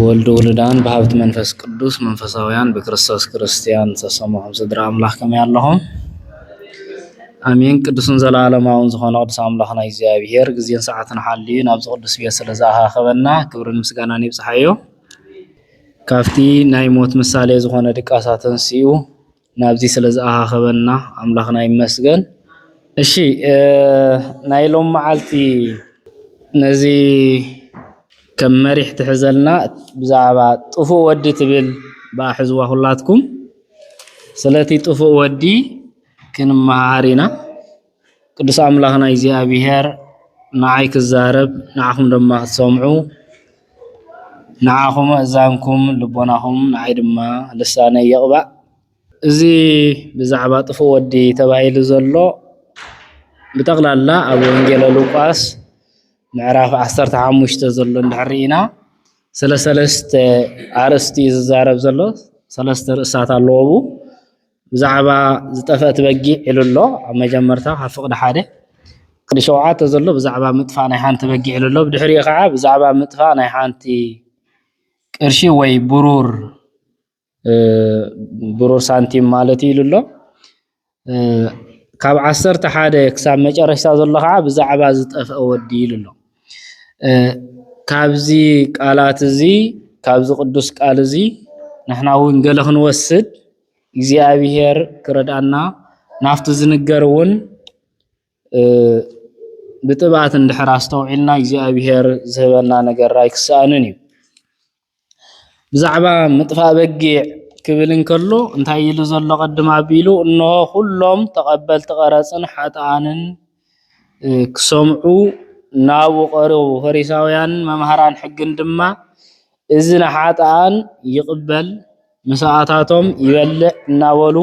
ብወልድ ውሉዳን ብሃብቲ መንፈስ ቅዱስ መንፈሳውያን ብክርስቶስ ክርስትያን ዝተሰምዑም ስድራ ኣምላኽ ከመይ ኣለኹም? ኣሜን። ቅዱስን ዘለዓለማውን ዝኾነ ቅዱስ ኣምላኽና እግዚኣብሄር ግዜን ሰዓትን ሓልዩ ናብዚ ቅዱስ ቤት ስለ ዝኣኻኸበና ክብርን ምስጋናን ይብጽሓዮ። ካብቲ ናይ ሞት ምሳሌ ዝኾነ ድቃሳ ተንሲኡ ናብዚ ስለ ዝኣኻኸበና ኣምላኽና ይመስገን። እሺ ናይ ሎም መዓልቲ ነዚ ከም መሪሕ ትሕዘልና ብዛዕባ ጥፉእ ወዲ ትብል ብኣ ሕዝዋ ኩላትኩም ስለቲ ጥፉእ ወዲ ክንመሃሃር ኢና። ቅዱስ ኣምላኽና እግዚኣብሔር ንዓይ ክዛረብ ንዓኹም ድማ ክትሰምዑ ንዓኹም ኣእዛንኩም ልቦናኹም ንዓይ ድማ ልሳነይ ይቕባእ። እዚ ብዛዕባ ጥፉእ ወዲ ተባሂሉ ዘሎ ብጠቕላላ ኣብ ወንጌለ ሉቃስ ምዕራፍ ዓሰርተ ሓሙሽተ ዘሎ እንድሕር ኢና ስለ ሰለስተ ኣርእስቲ እዩ ዝዛረብ ዘሎ ሰለስተ ርእስታት ኣለዎ። ብዛዕባ ዝጠፍአት በጊዕ ኢሉ ኣሎ ኣብ መጀመርታ ካብ ፍቕዲ ሓደ ፍቕዲ ሸውዓተ ዘሎ ብዛዕባ ምጥፋእ ናይ ሓንቲ በጊዕ ኢሉ ኣሎ ብድሕሪኡ ከዓ ብዛዕባ ምጥፋእ ናይ ሓንቲ ቅርሺ ወይ ብሩር ብሩር ሳንቲም ማለት ኢሉ ኣሎ ካብ ዓሰርተ ሓደ ክሳብ መጨረሻ ዘሎ ከዓ ብዛዕባ ዝጠፍአ ወዲ ኢሉ ኣሎ ካብዚ ቃላት እዚ ካብዚ ቅዱስ ቃል እዚ ንሕና እውን ገለ ክንወስድ እግዚኣብሔር ክረድኣና ናብቲ ዝንገር እውን ብጥብኣት እንድሕር ኣስተውዒልና እግዚኣብሔር ዝህበና ነገር ኣይክሰኣንን እዩ። ብዛዕባ ምጥፋእ በጊዕ ክብል እንከሎ እንታይ ኢሉ ዘሎ ቅድም ኣቢሉ እነሆ ኩሎም ተቐበልቲ ቀረፅን ሓጥኣንን ክሰምዑ ናብኡ ቐረቡ። ፈሪሳውያንን መምሃራን ሕግን ድማ እዚ ንሓጥኣን ይቕበል ምሳኣታቶም ይበልዕ እናበሉ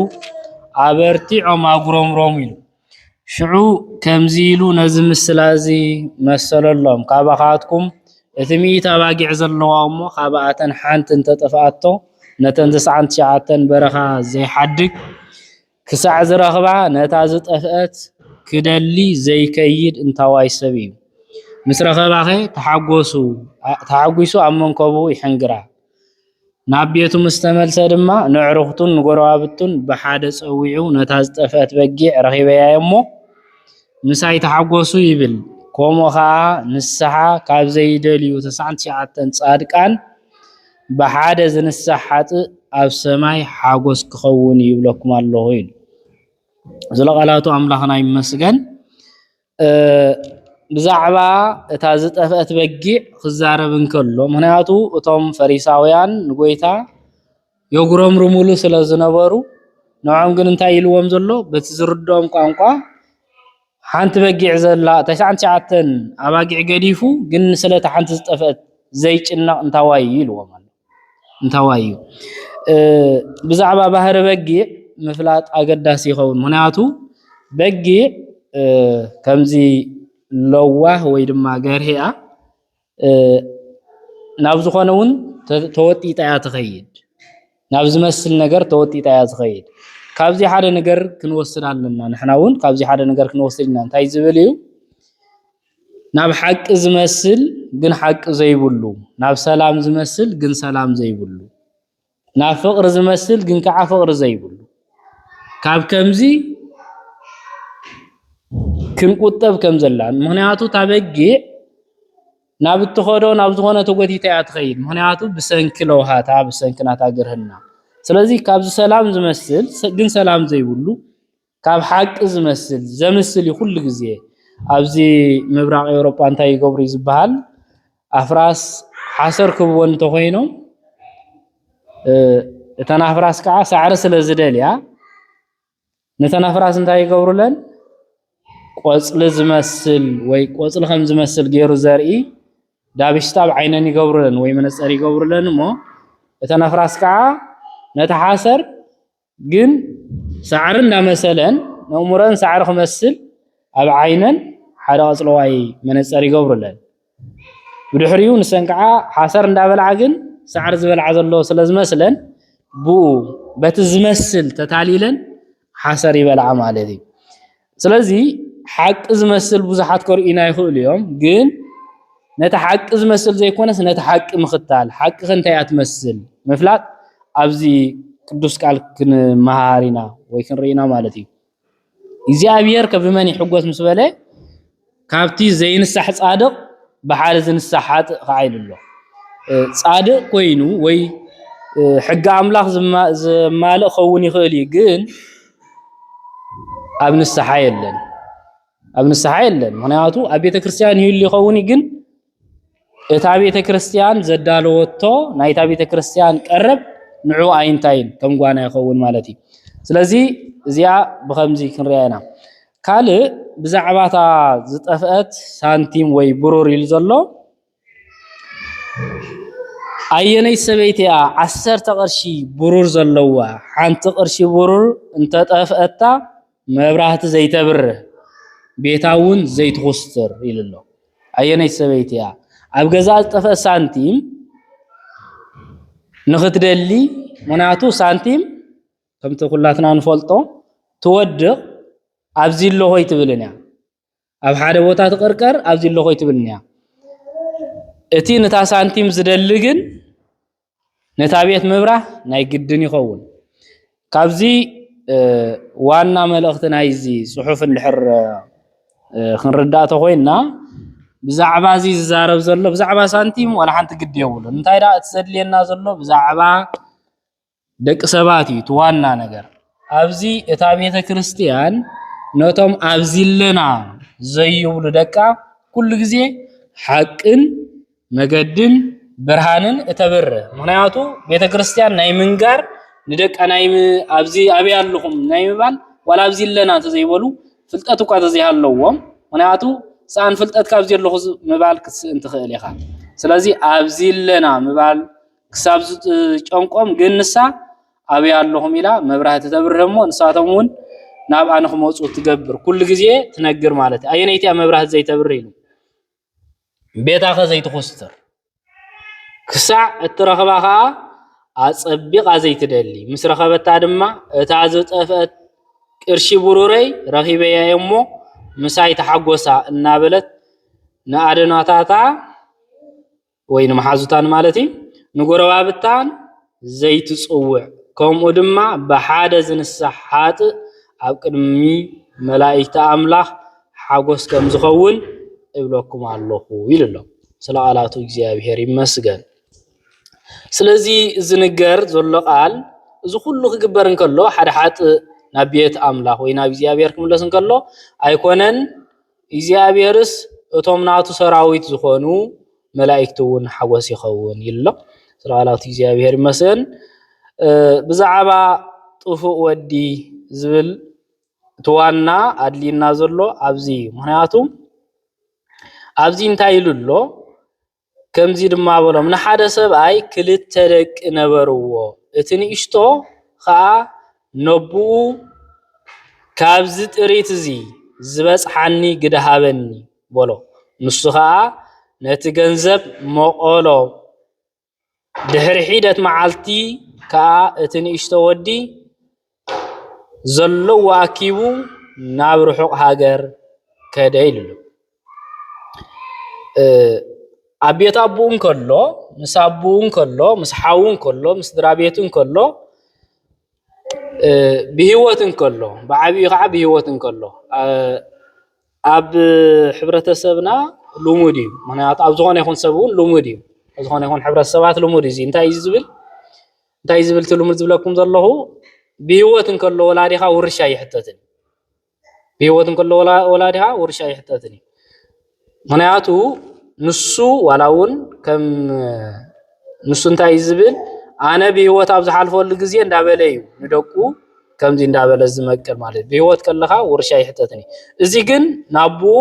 ኣበርቲዖም ኣጉረምረሙ ኢሉ። ሽዑ ከምዚ ኢሉ ነዚ ምስላ እዚ መሰለሎም፣ ካባኻትኩም እቲ ሚእቲ ኣባጊዕ ዘለዋ እሞ ካብኣተን ሓንቲ እንተ ጠፍኣቶ፣ ነተን ተስዓን ትሽዓተን በረኻ ዘይሓድግ፣ ክሳዕ ዝረኽባ ነታ ዝጠፍኣት ክደሊ ዘይከይድ እንታዋይ ሰብ እዩ። ምስ ረኸባኸ ተሓጒሱ ኣብ መንኮቡ ይሕንግራ። ናብ ቤቱ ምስ ተመልሰ ድማ ነዕሩኽቱን ንጎረባብቱን ብሓደ ጸዊዑ ነታ ዝጠፍኣት በጊዕ ረኺበያ'ሞ ምሳይ ተሓጐሱ ይብል። ከምኡ ከኣ ንስሓ ካብ ዘይደልዩ ተስዓን ትሽዓተን ጻድቃን፣ ብሓደ ዝንሳሕ ሓጥእ ኣብ ሰማይ ሓጎስ ክኸውን እዩ ይብለኩም ኣለኹ ኢሉ። ዝለቓላቱ ኣምላኽና ይመስገን። ብዛዕባ እታ ዝጠፍአት በጊዕ ክዛረብ እንከሎ ምክንያቱ እቶም ፈሪሳውያን ንጎይታ የጉረምርሙሉ ስለ ዝነበሩ ንዖም ግን እንታይ ኢልዎም ዘሎ በቲ ዝርድኦም ቋንቋ ሓንቲ በጊዕ ዘላ ተስዓን ትሽዓተን ኣባጊዕ ገዲፉ ግን ስለታ ሓንቲ ዝጠፍአት ዘይጭነቕ እንታዋይ እዩ ኢልዎም ኣሎ። እንታዋይ እዩ ብዛዕባ ባህሪ በጊዕ ምፍላጥ ኣገዳሲ ይኸውን። ምክንያቱ በጊዕ ከምዚ ለዋህ ወይ ድማ ገርሂ እያ። ናብ ዝኾነ እውን ተወጢጣ እያ ትኸይድ። ናብ ዝመስል ነገር ተወጢጣ እያ ትኸይድ። ካብዚ ሓደ ነገር ክንወስድ ኣለና። ንሕና እውን ካብዚ ሓደ ነገር ክንወስድ ኢና። እንታይ ዝብል እዩ? ናብ ሓቂ ዝመስል ግን ሓቂ ዘይብሉ፣ ናብ ሰላም ዝመስል ግን ሰላም ዘይብሉ ናብ ፍቕሪ ዝመስል ግን ከዓ ፍቕሪ ዘይብሉ ካብ ከምዚ ክንቁጠብ ከም ዘላን ምክንያቱ እታ በጊዕ ናብ እትኸዶ ናብ ዝኾነ ተጎቲታ እያ ትኸይድ ምክንያቱ ብሰንኪ ለውሃታ ብሰንኪ ናታ ግርህና ስለዚ ካብዚ ሰላም ዝመስል ግን ሰላም ዘይብሉ ካብ ሓቂ ዝመስል ዘምስል እዩ ኩሉ ግዜ ኣብዚ ምብራቅ ኤውሮጳ እንታይ ይገብሩ ዝበሃል ኣፍራስ ሓሰር ክብወን እንተኮይኖም እተን ኣፍራስ ከዓ ሳዕሪ ስለ ዝደልያ ነተን ኣፍራስ እንታይ ይገብሩለን ቆፅሊ ዝመስል ወይ ቆፅሊ ከም ዝመስል ገይሩ ዘርኢ ዳብሽታ ኣብ ዓይነን ይገብሩለን ወይ መነፀር ይገብሩለን እሞ እተን ኣፍራስ ከዓ ነቲ ሓሰር ግን ሳዕሪ እንዳመሰለን ነእሙረን ሳዕሪ ክመስል ኣብ ዓይነን ሓደ ቀጽለዋይ መነጸር ይገብሩለን። ብድሕሪኡ ንሰን ከዓ ሓሰር እንዳበልዓ ግን ሳዕሪ ዝበልዓ ዘሎ ስለዝመስለን ብኡ በቲ ዝመስል ተታሊለን ሓሰር ይበልዓ ማለት እዩ። ስለዚ ሓቂ ዝመስል ብዙሓት ከርእዩና ይኽእሉ እዮም፣ ግን ነቲ ሓቂ ዝመስል ዘይኮነስ ነቲ ሓቂ ምኽታል፣ ሓቂ ከ እንታይ እያ ትመስል ምፍላጥ ኣብዚ ቅዱስ ቃል ክንመሃሃር ኢና ወይ ክንርኢ ኢና ማለት እዩ። እግዚኣብሔር ከ ብመን ይሕጎስ ምስ በለ፣ ካብቲ ዘይንሳሕ ጻድቕ ብሓደ ዝንሳሕ ሓጥእ ኸኣ ኢሉ ኣሎ። ጻድቕ ኮይኑ ወይ ሕጊ ኣምላኽ ዘማልእ ክኸውን ይኽእል እዩ፣ ግን ኣብ ንስሓ የለን። ኣብ ንስሓ የለን፣ ምኽንያቱ ኣብ ቤተ ክርስቲያን ይህሉ ይኸውን እዩ፣ ግን እታ ቤተ ክርስቲያን ዘዳለወቶ ናይታ ቤተ ክርስቲያን ቀረብ ንዑ ኣይንታይን ከም ጓና ይኸውን ማለት እዩ። ስለዚ እዚኣ ብከምዚ ክንሪያ ኢና። ካልእ ብዛዕባ እታ ዝጠፍአት ሳንቲም ወይ ብሩር ኢሉ ዘሎ ኣየነይ ሰበይቲ እያ ዓሰርተ ቅርሺ ብሩር ዘለዋ ሓንቲ ቅርሺ ብሩር እንተጠፍአታ መብራህቲ ዘይተብርህ ቤታ እውን ዘይትኹስትር ኢሉ ኣሎ። ኣየነይቲ ሰበይቲ እያ ኣብ ገዛ ዝጠፍአ ሳንቲም ንኽትደሊ ምክንያቱ ሳንቲም ከምቲ ኩላትና ንፈልጦ ትወድቕ ኣብዚ ኣለኹ ኣይትብልን እያ ኣብ ሓደ ቦታ ትቕርቀር ኣብዚ ኣለኹ ኣይትብልን እያ እቲ ነታ ሳንቲም ዝደሊ ግን ነታ ቤት ምብራህ ናይ ግድን ይኸውን ካብዚ ዋና መልእኽቲ ናይዚ ጽሑፍ እንድሕር ክንርዳእ ተኾይንና ብዛዕባ እዚ ዝዛረብ ዘሎ ብዛዕባ ሳንቲም ዋላ ሓንቲ ግዲ የብሉን እንታይ ደኣ እቲ ዘድልየና ዘሎ ብዛዕባ ደቂ ሰባት እዩ እቲ ዋና ነገር። ኣብዚ እታ ቤተ ክርስቲያን ነቶም ኣብዚለና ዘይብሉ ደቃ ኩሉ ግዜ ሓቅን መገድን ብርሃንን እተብርህ ምክንያቱ ቤተ ክርስቲያን ናይ ምንጋር ንደቃ ናይ ኣብዚ ኣበይ ኣለኹም ናይ ምባል ዋላ ኣብዚ ኣለና እንተዘይበሉ ፍልጠት እኳ እንተዘይሃለዎም ምክንያቱ ሰኣን ፍልጠት ካብዚ ኣለኹ ምባል ክትስእን ትኽእል ኢኻ። ስለዚ ኣብዚ ኣለና ምባል ክሳብ ዝጨንቆም ግን ንሳ ኣበይ ኣለኹም ኢላ መብራህቲ ተብርህ እሞ ንሳቶም እውን ናብኣ ንክመፁ ትገብር ኩሉ ግዜ ትነግር ማለት እዩ ኣየነይቲ እያ መብራህቲ ዘይተብርህ ኢሉ ቤታኸ ዘይትኹስትር ክሳዕ እትረኽባ ከዓ ኣጸቢቓ ዘይትደሊ ምስ ረኸበታ ድማ እታ ዝጠፍአት ቅርሺ ብሩረይ ረኺበያ እሞ ምሳይ ተሓጎሳ እናበለት ንኣደናታታ ወይ ንመሓዙታ ንማለት እዩ፣ ንጎረባብታን ዘይትጽውዕ፣ ከምኡ ድማ ብሓደ ዝንሳሕ ሓጥእ ኣብ ቅድሚ መላኢክቲ ኣምላኽ ሓጎስ ከም ዝኸውን እብለኩም ኣሎኹ ኢሉ ኣሎ። ስለ ቃላቱ እግዚኣብሔር ይመስገን። ስለዚ ዝንገር ዘሎ ቃል እዚ ኩሉ ክግበር እንከሎ ሓደ ሓጥእ ናብ ቤት ኣምላኽ ወይ ናብ እግዚኣብሔር ክምለስ እንከሎ ኣይኮነን እግዚኣብሔርስ እቶም ናቱ ሰራዊት ዝኾኑ መላእክቲ እውን ሓጎስ ይኸውን ይል ኣሎ ስለዓላቱ እግዚኣብሔር ይመስን ብዛዕባ ጥፉእ ወዲ ዝብል ትዋና ኣድልዩና ዘሎ ኣብዚ እዩ ምክንያቱ ኣብዚ እንታይ ኢሉ ኣሎ ከምዚ ድማ በሎም፣ ንሓደ ሰብኣይ ክልተ ደቂ ነበርዎ፣ እቲ ንእሽቶ ኸኣ ነቦኡ፣ ካብዚ ጥሪት እዚ ዚበጽሓኒ ግደ ሃበኒ፣ በሎ። ንሱ ኸኣ ነቲ ገንዘብ መቐሎ፣ ድሕሪ ሒደት መዓልቲ ከኣ እቲ ንእሽቶ ወዲ፣ ዘለዎ ኣኪቡ ናብ ርሑቕ ሃገር ከደ ኢሉ ኣሎ። ኣብ ቤት ኣቦኡ እንከሎ ምስ ኣቦኡ እንከሎ ምስ ሓዉ እንከሎ ምስ ስድራቤቱ እንከሎ ብሂወት እንከሎ ብዓቢኡ ከዓ ብሂወት እንከሎ ኣብ ሕብረተሰብና ልሙድ እዩ። ምኽንያቱ ኣብ ዝኾነ ይኹን ሰብ እውን ልሙድ እዩ። ኣብ ዝኾነ ይኹን ሕብረተሰባት ልሙድ እዩ። እዚ እንታይ እዩ ዝብል እንታይ እዩ ዝብል እቲ ልሙድ ዝብለኩም ዘለኹ ብሂወት እንከሎ ወላዲኻ ውርሻ ኣይሕተትን እዩ ብሂወት እንከሎ ወላዲኻ ውርሻ ኣይሕተትን እዩ ምክንያቱ ንሱ ዋላ እውን ከም ንሱ እንታይ እዩ ዝብል ኣነ ብሂወት ኣብ ዝሓልፈሉ ግዜ እንዳበለ እዩ ንደቁ ከምዚ እንዳበለ ዝመቅል ማለት እዩ ብሂወት ከለኻ ውርሻ ኣይሕተትን እዩ እዚ ግን ናብኡ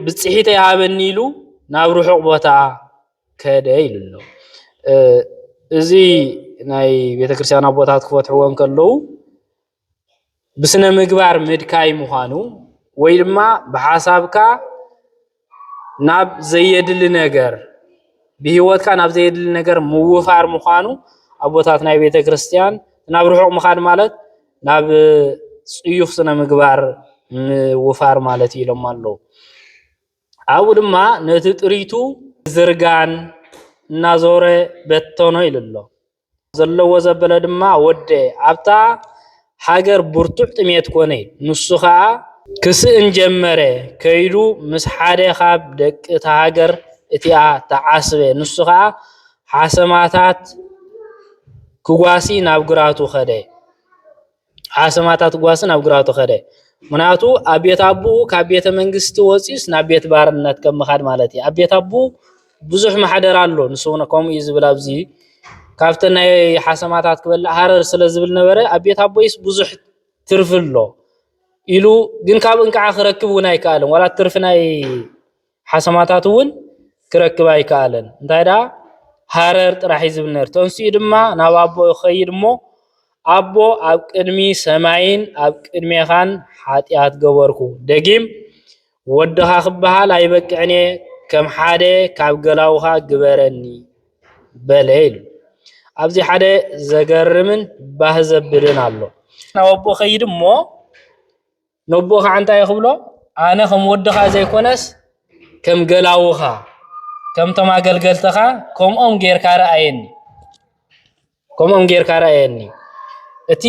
ብፅሒተ ይሃበኒ ኢሉ ናብ ርሑቕ ቦታ ከደ ኢሉ ኣሎ። እዚ ናይ ቤተክርስቲያን ኣቦታት ክፈትሕዎ እንከለዉ ብስነ ምግባር ምድካይ ምዃኑ ወይ ድማ ብሓሳብካ ናብ ዘየድሊ ነገር ብሂወትካ ናብ ዘየድሊ ነገር ምውፋር ምዃኑ ኣቦታት ናይ ቤተክርስቲያን ናብ ርሑቕ ምኻድ ማለት ናብ ፅዩፍ ስነ ምግባር ምውፋር ማለት እዩ ኢሎሞ ኣለዉ። ኣብኡ ድማ ነቲ ጥሪቱ ብዝርጋን እናዞረ በተኖ ኢሉ ኣሎ። ዘለዎ ዘበለ ድማ ወደ ኣብታ ሃገር ብርቱዕ ጥሜት ኮነ ኢሉ። ንሱ ኸኣ ክስእን ጀመረ፣ ከይዱ ምስ ሓደ ኻብ ደቂ እታ ሃገር እቲኣ ተዓስበ፣ ንሱ ኸኣ ሓሰማታት ክጓሲ ናብ ግራቱ ኸደ። ኣሰማታት ጓሲ ናብ ግራውቱ ከደ። ምክንያቱ ኣብ ቤት ኣቡኡ ካብ ቤተ መንግስቲ ወፂኡስ ናብ ቤት ባርነት ከም ምኻድ ማለት እዩ። ኣብ ቤት ኣቡኡ ብዙሕ ማሕደር ኣሎ። ንሱ እውን ከምኡ እዩ ዝብል ኣብዚ ካብቲ ናይ ሓሰማታት ክበልዕ ሃረር ስለ ዝብል ነበረ ኣብ ቤት ኣቦይስ ብዙሕ ትርፊ ኣሎ ኢሉ ግን ካብ እንቅዓ ክረክብ እውን ኣይከኣልን ዋላ ትርፊ ናይ ሓሰማታት እውን ክረክብ ኣይከኣለን። እንታይ ደኣ ሃረር ጥራሕ እዩ ዝብል ነይሩ። ተንሲኡ ድማ ናብ ኣቦኡ ይኸይድ እሞ ኣቦ ኣብ ቅድሚ ሰማይን ኣብ ቅድሜኻን ሓጢኣት ገበርኩ፣ ደጊም ወድኻ ክበሃል ኣይበቅዕን እየ፣ ከም ሓደ ካብ ገላዉኻ ግበረኒ በለ ኢሉ። ኣብዚ ሓደ ዘገርምን ባህ ዘብልን ኣሎ። ናብ ኣቦኡ ይኸይድ እሞ ነቦኡ ከዓ እንታይ ክብሎ ኣነ ከም ወድኻ ዘይኮነስ ከም ገላውኻ ከምቶም ኣገልገልትኻ ከምኦም ጌርካ ረኣየኒ ከምኦም ጌርካ ረኣየኒ እቲ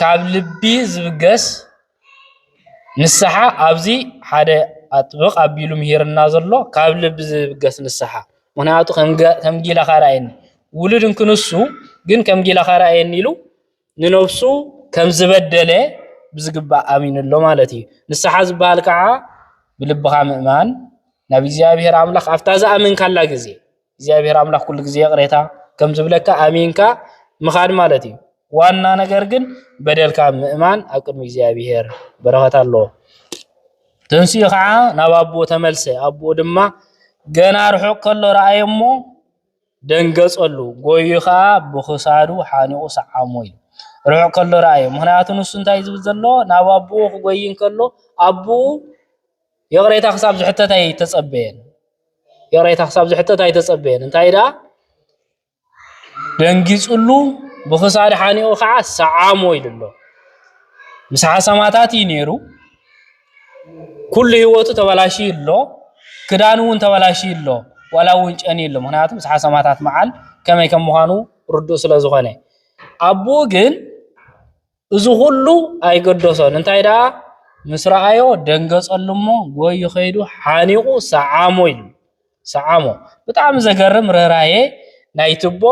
ካብ ልቢ ዝብገስ ንስሓ ኣብዚ ሓደ ኣጥብቕ ኣቢሉ ምሂርና ዘሎ ካብ ልቢ ዝብገስ ንስሓ ምክንያቱ ከም ጊላኻ ረኣየኒ ውሉድ እንክንሱ ግን ከም ጊላኻ ረኣየኒ ኢሉ ንነብሱ ከም ዝበደለ ብዝግባእ ኣሚኑ ኣሎ ማለት እዩ። ንስሓ ዝበሃል ከዓ ብልብኻ ምእማን ናብ እግዚኣብሔር ኣምላኽ ኣብታ ዝኣመንካላ ግዜ እግዚኣብሔር ኣምላኽ ኩሉ ግዜ ይቕሬታ ከም ዝብለካ ኣሚንካ ምኻድ ማለት እዩ። ዋና ነገር ግን በደልካ ምእማን ኣብ ቅድሚ እግዚኣብሔር በረኸት ኣለዎ። ተንስኡ ከዓ ናብ ኣቦ ተመልሰ። ኣቦ ድማ ገና ርሑቕ ከሎ ረኣየ እሞ ደንገጸሉ፣ ጎይዩ ኸኣ ብኽሳዱ ሓኒቑ ሰዓሞ ኢሉ ርሑቕ ከሎ ረኣዮ። ምኽንያቱ ንሱ እንታይ እዩ ዝብል ዘሎ? ናብ ኣቦኡ ክጎይ እንከሎ ኣቦኡ ይቕሬታ ክሳብ ዝሕተት ኣይተጸበየን። ይቕሬታ ክሳብ ዝሕተት ኣይተጸበየን። እንታይ ደኣ ደንጊጽሉ ብኽሳድ ሓኒቑ ከዓ ሰዓሞ ኢሉ ኣሎ። ምስ ሓሰማታት እዩ ነይሩ። ኩሉ ህይወቱ ተበላሽዩ ኣሎ፣ ክዳኑ እውን ተበላሽዩ ኣሎ፣ ዋላ እውን ጨንዩ ኣሎ፣ ምክንያቱ ፍስሓ ሰማእታት መዓል ከመይ ከም ምዃኑ ርዱእ ስለ ዝኾነ፣ ኣቦኡ ግን እዚ ኩሉ ኣይገደሶን፣ እንታይ ደኣ ምስ ረኣዮ ደንገጸሉ እሞ ጎዩ ከይዱ ሓኒቑ ሰዓሞ ኢሉ ሰዓሞ። ብጣዕሚ ዘገርም ርህራሄ ናይቲ ኣቦ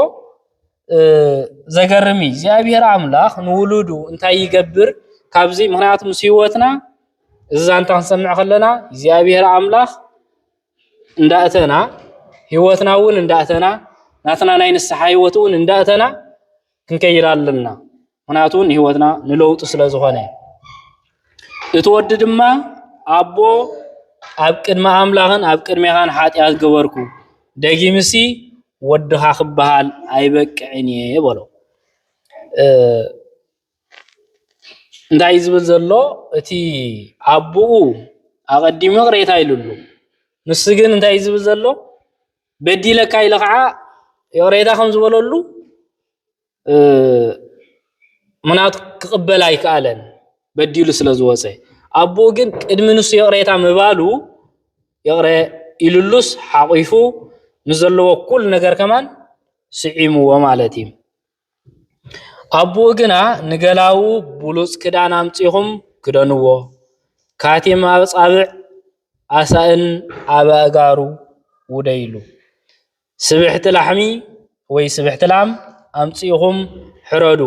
ዘገርም እዩ እግዚኣብሔር ኣምላኽ ንውሉዱ እንታይ ይገብር ካብዚ ምክንያቱ ምስ ህይወትና እዚ ዛንታ ክንሰምዕ ከለና እግዚኣብሔር ኣምላኽ እንዳእተና ህይወትና እውን እንዳእተና ናትና ናይ ንስሓ ህይወት እውን እንዳእተና ክንከይድ ኣለና ምክንያቱ ንህይወትና ንለውጢ ስለ ዝኾነ እቲ ወዲ ድማ ኣቦ ኣብ ቅድሚ ኣምላኽን ኣብ ቅድሜኻን ሓጢኣት ገበርኩ ደጊምሲ ወድኻ ክበሃል ኣይበቅዕን እየ በሎ እንታይ ዝብል ዘሎ እቲ ኣቦኡ ኣቐዲሙ ቅሬታ ኢሉሉ ንሱ ግን እንታይ ዝብል ዘሎ በዲለካ ኢለ ከዓ ይቕሬታ ከም ዝበለሉ ምኽንያቱ ክቕበል ኣይከኣለን በዲሉ ስለ ዝወፀ ኣቦኡ ግን ቅድሚ ንሱ ይቕሬታ ምባሉ ይቕረ ኢሉሉስ ሓቑፉ ምስ ዘለዎ ኩሉ ነገር ከማን ስዒምዎ ማለት እዩ ኣቦኡ ግና ንገላዉ ብሉፅ ክዳን ኣምፂኹም ክደንዎ ካቲም ኣብ ፃብዕ ኣሳእን ኣብ ኣእጋሩ ውደይሉ ስብሕቲ ላሕሚ ወይ ስብሕቲ ላም ኣምፂእኹም ሕረዱ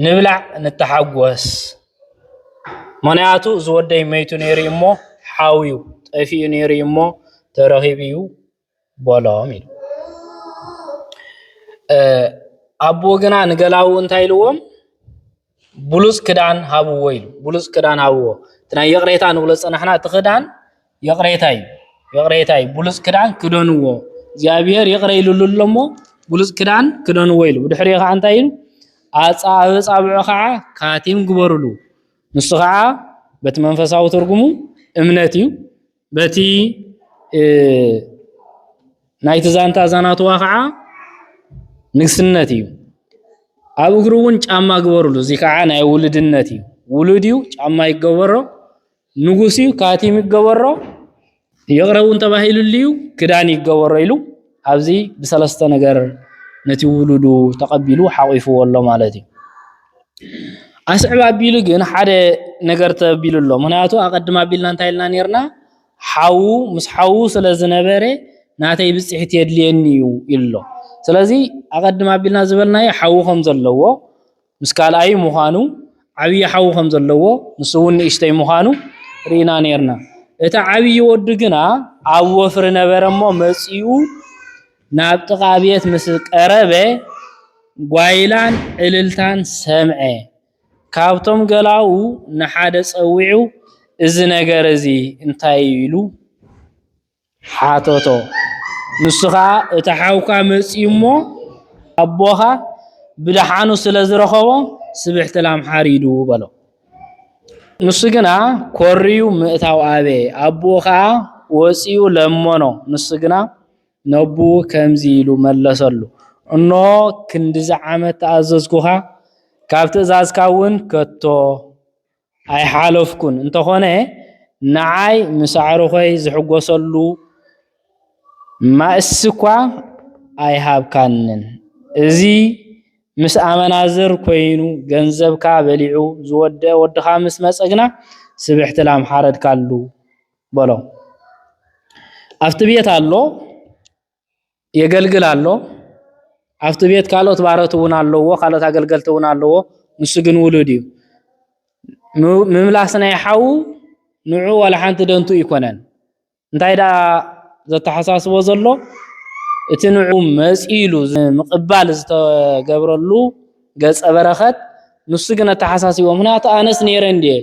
ንብላዕ ንተሓጎስ ምኽንያቱ እዚ ወደይ መይቱ ነይሩ እዩ እሞ ሓው እዩ ጠፊኡ ነይሩ እዩ እሞ ተረኺቡ እዩ በሎም ኢሉ ኣቦ ግና ንገላዉ እንታይ ኢልዎም ብሉጽ ክዳን ሃብዎ ኢሉ ብሉጽ ክዳን ሃብዎ እቲ ናይ ይቕሬታ ንብሎ ዝጸናሕና እቲ ክዳን ይቕሬታ እዩ ይቕሬታ እዩ ብሉጽ ክዳን ክደንዎ እግዚኣብሔር ይቕረ ኢሉሉ ኣሎ እሞ ብሉጽ ክዳን ክደንዎ ኢሉ ብድሕሪኡ ከዓ እንታይ ኢሉ ኣጻብጻብዑ ከዓ ካቲም ግበሩሉ ንሱ ከዓ በቲ መንፈሳዊ ትርጉሙ እምነት እዩ በቲ ናይቲ ዛንታ ዛናትዋ ከዓ ንግስነት እዩ ኣብ እግሩ እውን ጫማ ግበርሉ እዚ ከዓ ናይ ውልድነት እዩ ውሉድ እዩ ጫማ ይገበሮ ንጉስ እዩ ካቲም ይገበሮ ይቕረ እውን ተባሂሉሉ እዩ ክዳን ይገበሮ ኢሉ ኣብዚ ብሰለስተ ነገር ነቲ ውሉዱ ተቐቢሉ ሓቂፍዎ ኣሎ ማለት እዩ ኣስዕብ ኣቢሉ ግን ሓደ ነገር ተቢሉ ኣሎ ምክንያቱ ኣቀድም ኣቢልና እንታይ ኢልና ነርና ሓዉ ምስ ሓዉ ስለ ዝነበረ ናተይ ብፅሒት የድልየኒ እዩ ኢሉ ኣሎ ስለዚ ኣቀድም ኣቢልና ዝበልናዮ ሓዉ ከም ዘለዎ ምስ ካልኣዩ ምዃኑ ዓብዪ ሓዉ ከም ዘለዎ ንሱ እውን ንእሽተይ ምዃኑ ርኢና ነርና እቲ ዓብዪ ወዱ ግና ኣብ ወፍሪ ነበረ እሞ መፂኡ ናብ ጥቓ ቤት ምስ ቀረበ ጓይላን እልልታን ሰምዐ። ካብቶም ገላዉ ንሓደ ጸዊዑ እዚ ነገር እዚ እንታይ እዩ ኢሉ ሓተቶ። ንሱ ኸኣ እቲ ሓውካ መጺኡ እሞ ኣቦኻ ብደሓኑ ስለ ዝረኸቦ ስብሕቲ ላም ሓሪዱ በሎ። ንሱ ግና ኮርዩ ምእታው ኣበየ። ኣቦኡ ኸኣ ወጺኡ ለመኖ፣ ንሱ ግና ነቦኡ ከምዚ ኢሉ መለሰሉ፣ እንሆ፣ ክንድዚ ዓመት ተኣዘዝኩኻ፣ ካብ ትእዛዝካ እውን ከቶ ኣይሓለፍኩን፣ እንተኾነ ንዓይ ምስ ኣዕሩኸይ ዝሕጐሰሉ ማእሲ እኳ ኣይሃብካንን፣ እዚ ምስ ኣመናዝር ኰይኑ ገንዘብካ በሊዑ ዝወደኣ ወድኻ ምስ መጸ ግና ስብሕቲ ላም ሓረድካሉ። በሎ። ኣብቲ ቤት ኣሎ የገልግል ኣሎ። ኣብቲ ቤት ካልኦት ባሮት እውን ኣለዎ፣ ካልኦት ኣገልገልቲ እውን ኣለዎ። ንሱ ግን ውሉድ እዩ። ምምላስ ናይ ሓዉ ንዑ ዋላ ሓንቲ ደንቱ ኣይኮነን። እንታይ ደኣ ዘተሓሳስቦ ዘሎ እቲ ንዑ መፂሉ ምቕባል ዝተገብረሉ ገፀ በረኸት ንሱ ግን ኣተሓሳሲቦ። ምክንያቱ ኣነስ ነይረ እንድየ፣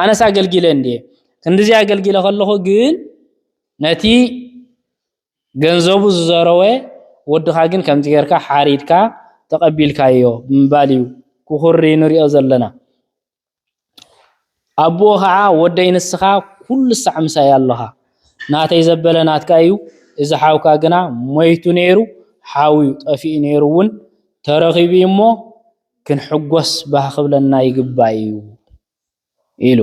ኣነስ ኣገልጊለ እንድየ፣ ክንድዚ ኣገልጊለ ከለኹ ግን ነቲ ገንዘቡ ዝዘረወ ወድኻ ግን ከምዚ ጌርካ ሓሪድካ ተቐቢልካዮ ብምባል እዩ ክኹሪ ንሪኦ ዘለና። ኣቦኡ ከዓ ወደይ ንስኻ ኩሉ ሳዕ ምሳይ ኣሎኻ ናተይ ዘበለ ናትካ እዩ እዚ ሓውካ ግና ሞይቱ ነይሩ ሓው እዩ ጠፊኡ ነይሩ እውን ተረኺቡ እዩ እሞ ክንሕጎስ ባህ ክብለና ይግባእ እዩ። ኢሉ።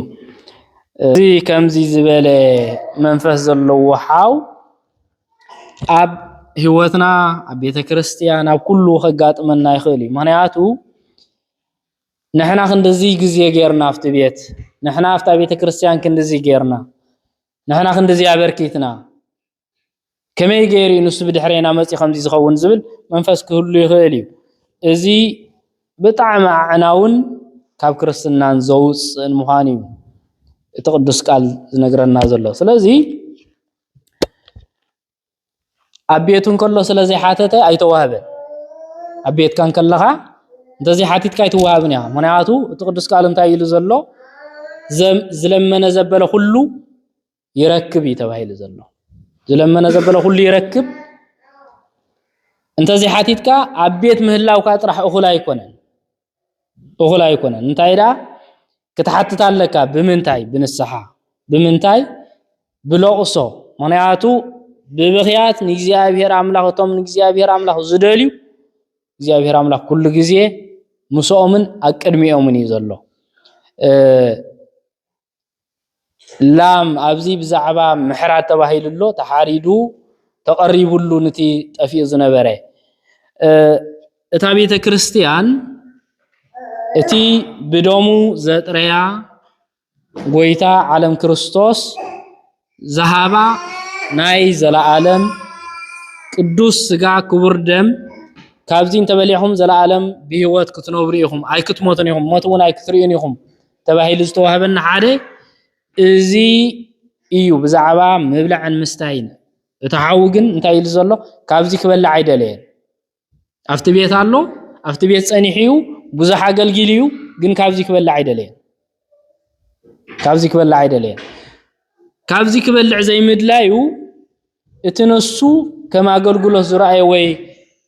እዚ ከምዚ ዝበለ መንፈስ ዘለዎ ሓው ኣብ ህይወትና፣ ኣብ ቤተ ክርስቲያን፣ ኣብ ኩሉ ከጋጥመና ይኽእል እዩ። ምክንያቱ ንሕና ክንድዚ ግዜ ጌርና ኣብቲ ቤት፣ ንሕና ኣብታ ቤተ ክርስቲያን ክንድዚ ጌርና፣ ንሕና ክንድዚ ኣበርኪትና፣ ከመይ ገይሩ ንሱ ብድሕሬና መፅዩ ከምዚ ዝኸውን ዝብል መንፈስ ክህሉ ይኽእል እዩ እዚ ብጣዕሚ ኣዕናውን ካብ ክርስትናን ዘውፅእን ምዃን እዩ እቲ ቅዱስ ቃል ዝነግረና ዘሎ ስለዚ ኣብ ቤቱ እንከሎ ስለ ዘይሓተተ ኣይተዋህበን ኣብ ቤትካ እንከለኻ እንተዘይሓቲትካ ኣይትዋሃብን እያ ምክንያቱ እቲ ቅዱስ ቃል እንታይ ኢሉ ዘሎ ዝለመነ ዘበለ ኩሉ ይረክብ እዩ ተባሂሉ ዘሎ ዝለመነ ዘበለ ኩሉ ይረክብ እንተዘይ ሓቲትካ ኣብ ቤት ምህላውካ ጥራሕ እኹል ኣይኮነን እኹል ኣይኮነን እንታይ ደኣ ክትሓትት ኣለካ ብምንታይ ብንስሓ ብምንታይ ብለቕሶ ምክንያቱ ብብኽያት ንእግዚኣብሔር ኣምላኽ እቶም ንእግዚኣብሔር ኣምላኽ ዝደልዩ እግዚኣብሔር ኣምላኽ ኩሉ ግዜ ምስኦምን ኣብ ቅድሚኦምን እዩ ዘሎ ላም ኣብዚ ብዛዕባ ምሕራድ ተባሂሉ ኣሎ ተሓሪዱ ተቐሪብሉ ንቲ ጠፊኡ ዝነበረ እታ ቤተ ክርስቲያን እቲ ብደሙ ዘጥረያ ጎይታ ዓለም ክርስቶስ ዝሃባ ናይ ዘለኣለም ቅዱስ ስጋ ክቡር ደም ካብዚ እንተበሊዕኹም ዘለኣለም ብህይወት ክትነብሩ ኢኹም ኣይክትሞቱን ኢኹም ሞት እውን ኣይክትርእዩን ኢኹም ተባሂሉ ዝተዋህበና ሓደ እዚ እዩ ብዛዕባ ምብላዕን ምስታይን እቲ ሓዊ ግን እንታይ ኢሉ ዘሎ ካብዚ ክበልዕ ኣይደለየን ኣብቲ ቤት ኣሎ ኣብቲ ቤት ጸኒሑ እዩ ብዙሕ ኣገልጊሉ እዩ ግን ካብዚ ክበልዕ ኣይደለየን ካብዚ ክበልዕ ኣይደለየን ካብዚ ክበልዕ ዘይምድላዩ እቲ ነሱ ከም ኣገልግሎት ዝረኣየ ወይ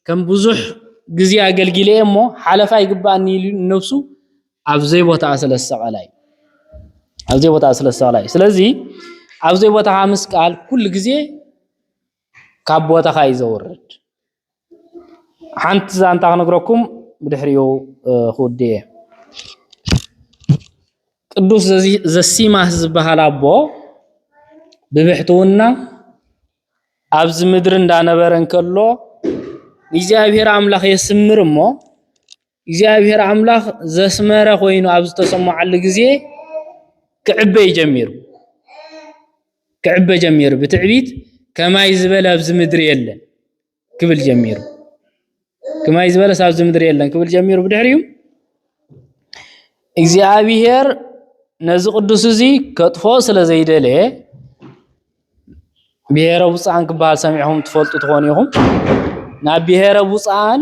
ከም ብዙሕ ግዜ ኣገልጊለ እየ እሞ ሓለፋ ይግባኣኒ ኢሉ ነብሱ ኣብ ዘይቦታኣ ስለ ዝሰቐላ እዩ ኣብ ዘይቦታኣ ስለ ዝሰቐላ እዩ ስለዚ ኣብ ዘይቦታኻ ምስቃል ኩሉ ግዜ ካብ ቦታኻ እዩ ዘውርድ ሓንቲ ዛንታ ክነግረኩም ብድሕሪኡ ክውድ እየ። ቅዱስ ዘሲማስ ዝበሃል ኣቦ ብብሕትውና ኣብዚ ምድሪ እንዳነበረ እንከሎ እግዚኣብሔር ኣምላኽ የስምር እሞ እግዚኣብሔር ኣምላኽ ዘስመረ ኮይኑ ኣብ ዝተሰምዓሉ ግዜ ክዕበይ ጀሚሩ ክዕበ ጀሚሩ ብትዕቢት ከማይ ዝበለ ኣብዚ ምድሪ የለን ክብል ጀሚሩ ከማይ ዝበለ ኣብዚ ምድሪ የለን ክብል ጀሚሩ ብድሕሪኡ እግዚኣብሔር ነዚ ቅዱስ እዚ ከጥፎ ስለ ዘይደለየ ብሄረ ውፃን ክበሃል ሰሚዕኹም ትፈልጡ ትኾኑ ኢኹም። ናብ ብሄረ ውፃን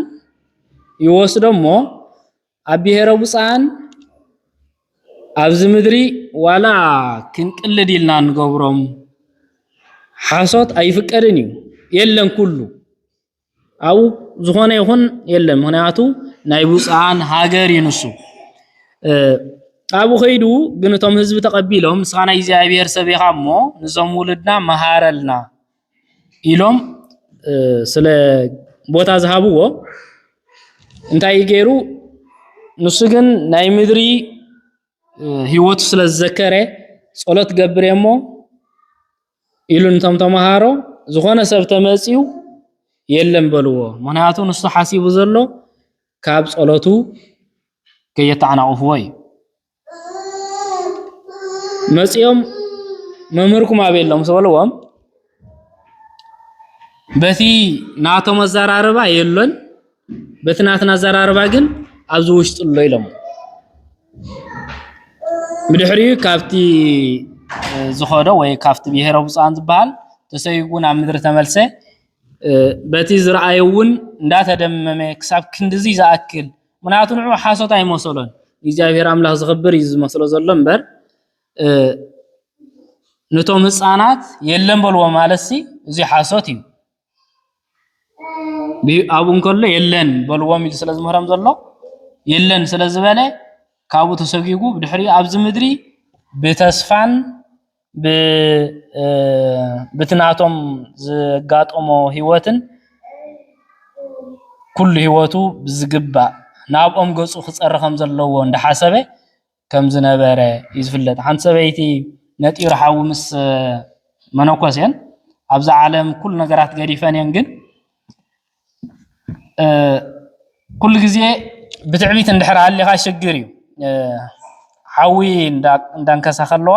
ይወስዶሞ ኣብ ብሄረ ውፃን ኣብዚ ምድሪ ዋላ ክንቅልድ ኢልና ንገብሮም ሓሶት ኣይፍቀድን እዩ የለን ኩሉ ኣብኡ ዝኾነ ይኹን የለን ምክንያቱ ናይ ብፁዓን ሃገር እዩ ንሱ ኣብኡ ከይዱ ግን እቶም ህዝቢ ተቐቢሎም ንስኻ ናይ እግዚኣብሔር ሰብ ኢኻ እሞ ንዞም ውልድና መሃረልና ኢሎም ስለ ቦታ ዝሃብዎ እንታይ እዩ ገይሩ ንሱ ግን ናይ ምድሪ ህይወቱ ስለ ዝዘከረ ጸሎት ገብር እሞ ኢሉ ንቶም ተምሃሮ ዝኾነ ሰብ ተመፅዩ የለን በልዎ ምክንያቱ ንሱ ሓሲቡ ዘሎ ካብ ፀሎቱ ከየተዓናቕፍዎ እዩ መፅኦም መምህርኩም ኣበይ ኣሎ ምስ በልዎም በቲ ናቶም ኣዘራርባ የለን በቲ ናትና ኣዘራርባ ግን ኣብዚ ውሽጢ ኣሎ ኢሎሞ ብድሕሪኡ ካብቲ ዝኸዶ ወይ ካብቲ ብሄረ ብፁዓን ዝበሃል ተሰይጉ ናብ ምድሪ ተመልሰ በቲ ዝረኣየ እውን እንዳተደመመ ክሳብ ክንድዚ ዝኣክል ምክንያቱ ንዑ ሓሶት ኣይመሰሎን እግዚኣብሔር ኣምላኽ ዝኽብር እዩ ዝመስሎ ዘሎ እምበር ነቶም ህፃናት የለን በልዎ ማለት እዚ ሓሶት እዩ ኣብኡ እንከሎ የለን በልዎም ኢሉ ስለ ዝምህሮም ዘሎ የለን ስለ ዝበለ ካብኡ ተሰጒጉ ብድሕሪ ኣብዚ ምድሪ ብተስፋን በቲ ናቶም ዘጋጠሞ ህይወትን ኩሉ ህይወቱ ብዝግባእ ናብኦም ገፁ ክፀሪ ከም ዘለዎ እንዳሓሰበ ከም ዝነበረ እዩ ዝፍለጥ። ሓንቲ ሰበይቲ ነጢሩ ሓዊ ምስ መነኮሴን ኣብዚ ዓለም ኩሉ ነገራት ገዲፈን እየን ግን ኩሉ ግዜ ብትዕቢት እንድሕር ሃሊኻ ሽግር እዩ ሓዊ እንዳንከሳ ከለዋ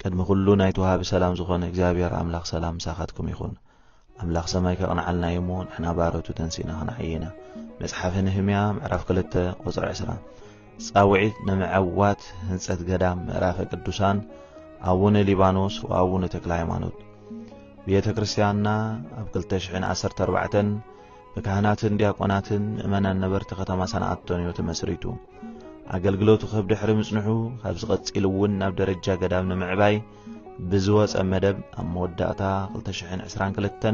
ቅድሚ ኩሉ ናይቲ ወሃቢ ሰላም ዝኾነ እግዚኣብሔር ኣምላኽ ሰላም ምሳኻትኩም ይኹን። ኣምላኽ ሰማይ ከቕንዓልና እዩ እሞ ንሕና ባሮቱ ተንሲእና ክንዓይ ኢና። መጽሓፈ ነህምያ ምዕራፍ 2 ቁጽሪ 20 ጻውዒት ንምዕዋት ህንጸት ገዳም ምዕራፈ ቅዱሳን ኣቡነ ሊባኖስ ወኣቡነ ተክለ ሃይማኖት ቤተ ክርስቲያንና ኣብ 214 ብካህናትን ዲያቆናትን ምእመናን ነበርቲ ከተማ ሰንዓቶንዮ ተመስሪቱ። ኣገልግሎቱ ክህብ ድሕሪ ምጽንሑ ካብዚ ቀጺሉ እውን ናብ ደረጃ ገዳም ንምዕባይ ብዝወጸ መደብ ኣብ መወዳእታ 2022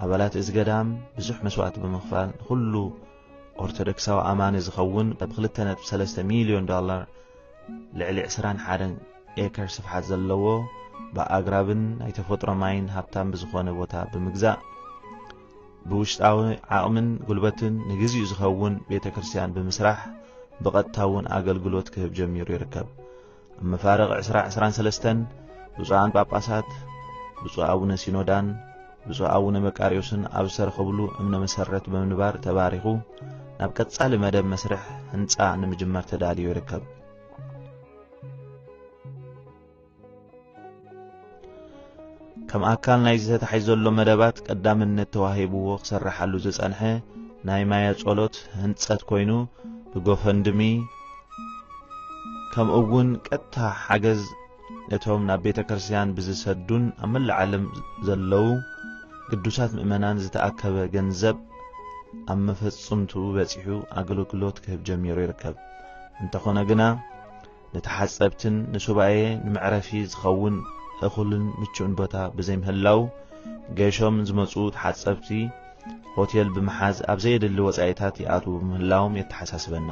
ኣባላት እዚ ገዳም ብዙሕ መስዋእቲ ብምኽፋል ንኹሉ ኦርቶዶክሳዊ ኣማኒ ዝኸውን ብ 2.3 ሚልዮን ዶላር ልዕሊ 21 ኤከር ስፍሓት ዘለዎ ብኣግራብን ናይ ተፈጥሮ ማይን ሃብታም ብዝኾነ ቦታ ብምግዛእ ብውሽጣዊ ዓቕምን ጉልበትን ንግዚኡ ዝኸውን ቤተ ክርስቲያን ብምስራሕ ብቐጥታ እውን ኣገልግሎት ክህብ ጀሚሩ ይርከብ። ኣብ መፋርቕ ዕስራ ዕስራን ሰለስተን ብፁዓን ጳጳሳት ብፁዕ ኣቡነ ሲኖዳን ብፁዕ ኣቡነ መቃርዮስን ኣብ ዝተረኸብሉ እምነ መሰረት ብምንባር ተባሪኹ ናብ ቀጻሊ መደብ መስርሕ ህንጻ ንምጅማር ተዳልዩ ይርከብ። ከም ኣካል ናይዚ ተታሒዝ ዘሎ መደባት ቀዳምነት ተዋሂብዎ ክሰራሓሉ ዝጸንሐ ናይ ማያ ጸሎት ህንጸት ኮይኑ ብጎፈንድሚ ከምኡ እውን ቀጥታ ሓገዝ ነቶም ናብ ቤተ ክርስቲያን ብዝሰዱን ኣብ መላእ ዓለም ዘለዉ ቅዱሳት ምእመናን ዝተኣከበ ገንዘብ ኣብ መፈጽምቱ በጺሑ ኣገልግሎት ክህብ ጀሚሩ ይርከብ እንተኾነ ግና ንተሓጸብትን ንሱባኤ ንመዕረፊ ዝኸውን እኹልን ምቹእን ቦታ ብዘይምህላው ገሾም ዝመጹ ተሓጸብቲ ሆቴል ብምሓዝ ኣብ ዘየድሊ ወጻኢታት ይኣትዉ ብምህላዎም የተሓሳስበና።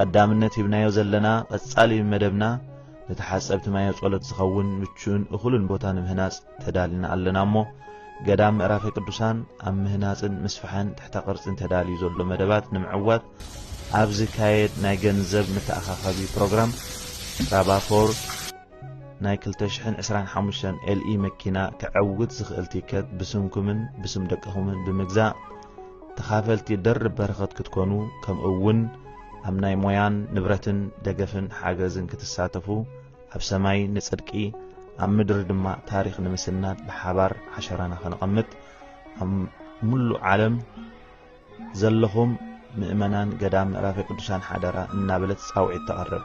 ቀዳምነት ሂብናዮ ዘለና ቀጻሊ መደብና ንተሓጸብቲ ማየ ጸሎት ዝኸውን ምቹእን እኹልን ቦታ ንምህናጽ ተዳልና ኣለና እሞ ገዳም ምዕራፈ ቅዱሳን ኣብ ምህናጽን ምስፍሐን ትሕተ ቅርጽን ተዳልዩ ዘሎ መደባት ንምዕዋት ኣብ ዝካየድ ናይ ገንዘብ መተኣኻኸቢ ፕሮግራም ራባፎር ናይ 225 ኤልኢ መኪና ከዐውት ዝኽእል ቲከት ብስምኩምን ብስም ደቅኹምን ብምግዛእ ተኻፈልቲ ደርብ በረኸት ክትኮኑ ከምኡ እውን ኣብ ናይ ሞያን ንብረትን ደገፍን ሓገዝን ክትሳተፉ ኣብ ሰማይ ንጽድቂ ኣብ ምድሪ ድማ ታሪኽ ንምስናድ ብሓባር ዓሸራና ከነቐምጥ ኣብ ምሉእ ዓለም ዘለኹም ምእመናን ገዳም ምዕራፈ ቅዱሳን ሓደራ እናበለት ጻውዒት ተቐርብ